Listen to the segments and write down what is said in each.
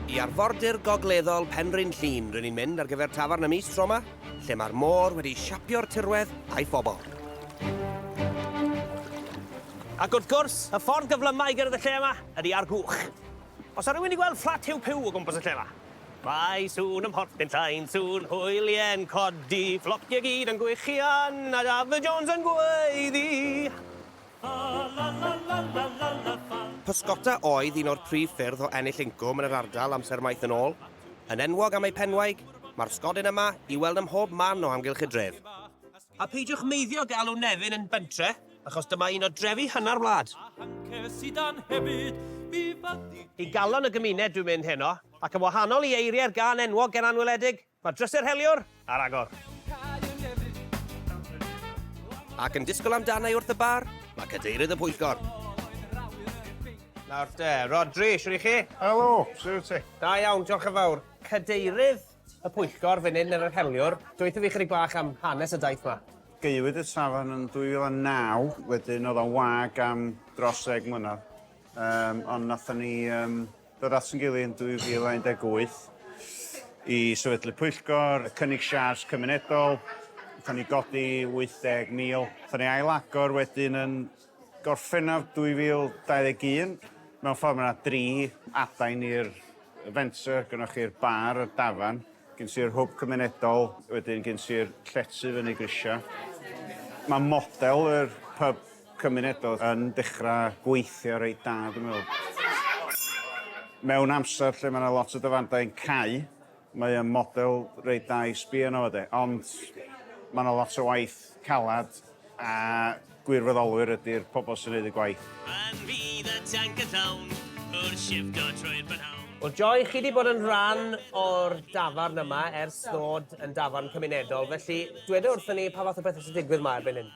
I arfordir gogleddol Penrhyn Llŷn rŷn ni'n mynd ar gyfer tafarn y mis tro 'ma, lle mae'r môr wedi siapio'r tirwedd a'i phobl. Ac wrth gwrs, y ffordd gyflyma i gyrraedd y lle yma ydy ar gwch. Os 'na rywun 'di gweld fflat Huw Puw o gwmpas y lle 'ma? Mae sŵn ym Mhorthyn Llain, sŵn hwylie'n codi, fflociau gyd yn gwichian, a Dafydd Jones yn gweiddi. Pysgota oedd un o'r prif ffyrdd o ennill incwm yn yr ardal amser maith yn ôl. Yn enwog am eu penwaig, mae'r sgodyn yma i'w weld ym mhob man o amgylch y dref. A peidiwch meiddio galw Nefyn yn bentre, achos dyma un o drefi hynna'r wlad. I galon y gymuned dwi'n mynd heno, ac yn wahanol i eiriau'r gân enwog ger anweledig, Mae drysau'r heliwr ar agor. Ac yn disgwyl amdanai wrth y bar, mae cadeirydd y pwyllgor. Nawr te, Rhodri, siwr i chi? Helo, siwr i ti? Da iawn, diolch yn fawr. Cadeirydd y pwyllgor fan hyn yn yr heliwr, dweithio fi chydig bach am hanes y daith ma. Gaewyd y safon yn 2009, wedyn oedd o'n wag am dros ddeg mlynedd. Um, ond nathon ni um, Dod at ein gilydd yn 2018 i sefydlu pwyllgor, cynnig siârs cymunedol, wnaethon ni godi 80,000. Wnaethon ni ail-agor wedyn yn Gorffennaf 2021. Mewn ffordd mae yna dri adain i'r fenter, gynnoch chi'r bar, y dafarn, gen ti'r hwb cymunedol, wedyn gen ti'r llety fyny grisiau. Mae model yr pub cymunedol yn dechrau gweithio reit da dwi'n meddwl. Mewn amser lle mae yna lot o dyfandau yn cau, mae o'n model reit da i sbio arno fo de, ond mae yna lot o waith caled a gwirfoddolwyr ydy'r pobl sy'n gwneud y gwaith. Pan fydd y tanc yn llawn, wrth shifto trwy'r prynhawn. Wel Joy, chi 'di bod yn rhan o'r dafarn yma ers ddod yn dafarn cymunedol, felly dweda wrthon ni pa fath o bethe sy'n digwydd 'ma erbyn hyn?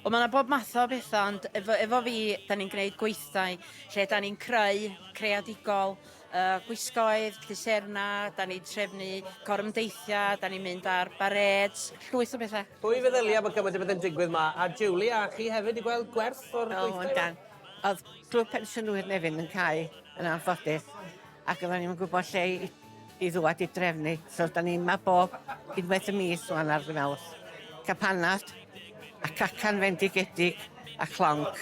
Wel ma' 'na bob math o betha ond efo efo fi 'dan ni'n gneud gweithdai lle 'dan ni'n creu creadigol yy gwisgoedd, lluserna, 'dan ni'n trefnu gorymdeithia', 'dan ni'n mynd ar barêds, llwyth o betha. Pwy feddylia bo' cymaint o bethe'n digwydd 'ma a Julie a chi hefyd 'di gweld gwerth o'r gweithdai 'ma? O yndan. O'dd Clwb Pensiynwyr Nefyn yn cau yn anffodus ac oddan ni'm yn gwbo lle i i ddŵad i drefnu. So, da ni'n ma bob unwaith y mis rwan ar Fynawth. Capanad, a cacan fendigedig, a chlonc.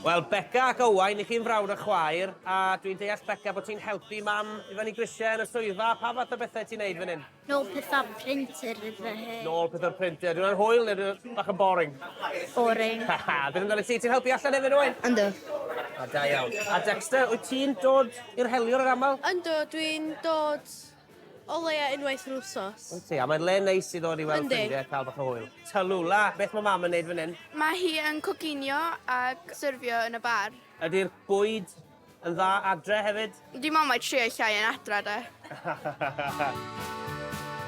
Wel, Beca ac Owain, i chi'n frawd a chwaer, a dwi'n deall, Beca, bod ti'n helpu Mam i fyny grisiau yn y swyddfa, pa fath o bethau ti'n neud fan hyn? Nôl pethau printer fy hun. Nôl pethau printer. Dwi'n anhwyl neu dwi'n bach yn boring? Boring. Haha, dyn nhw'n dod i ti, ti'n helpu allan efo rwy'n? Ynddo. A da iawn. A Dexter, wyt ti'n dod i'r heliwr yr aml? Ynddo, dwi'n dod o leia unwaith yr wsos. Wyt ti, a mae'n le neis i ddod i weld ffrindiau a cael bach o hwyl. Talula, beth mae mam yn neud fan hyn? Mae hi yn coginio ac syrfio yn y bar. Ydy'r bwyd Yn dda adre hefyd? Dim ond mae trio llai yn adra de.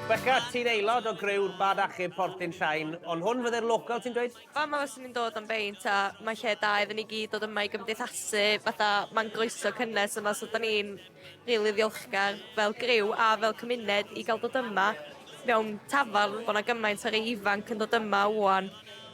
Beca, ti'n aelod o griw'r Bad Achub Portyn Llain, ond hwn fydde'r local ti'n dweud? Fama fyswn i'n dod am beint a mae'n lle da iddyn ni gyd dod yma i gymdeithasu, fatha mae'n groeso cynnes yma so da ni'n rili ddiolchgar fel griw a fel cymuned i gael dod yma mewn tafarn bod 'na gymaint o rei ifanc yn dod yma ŵan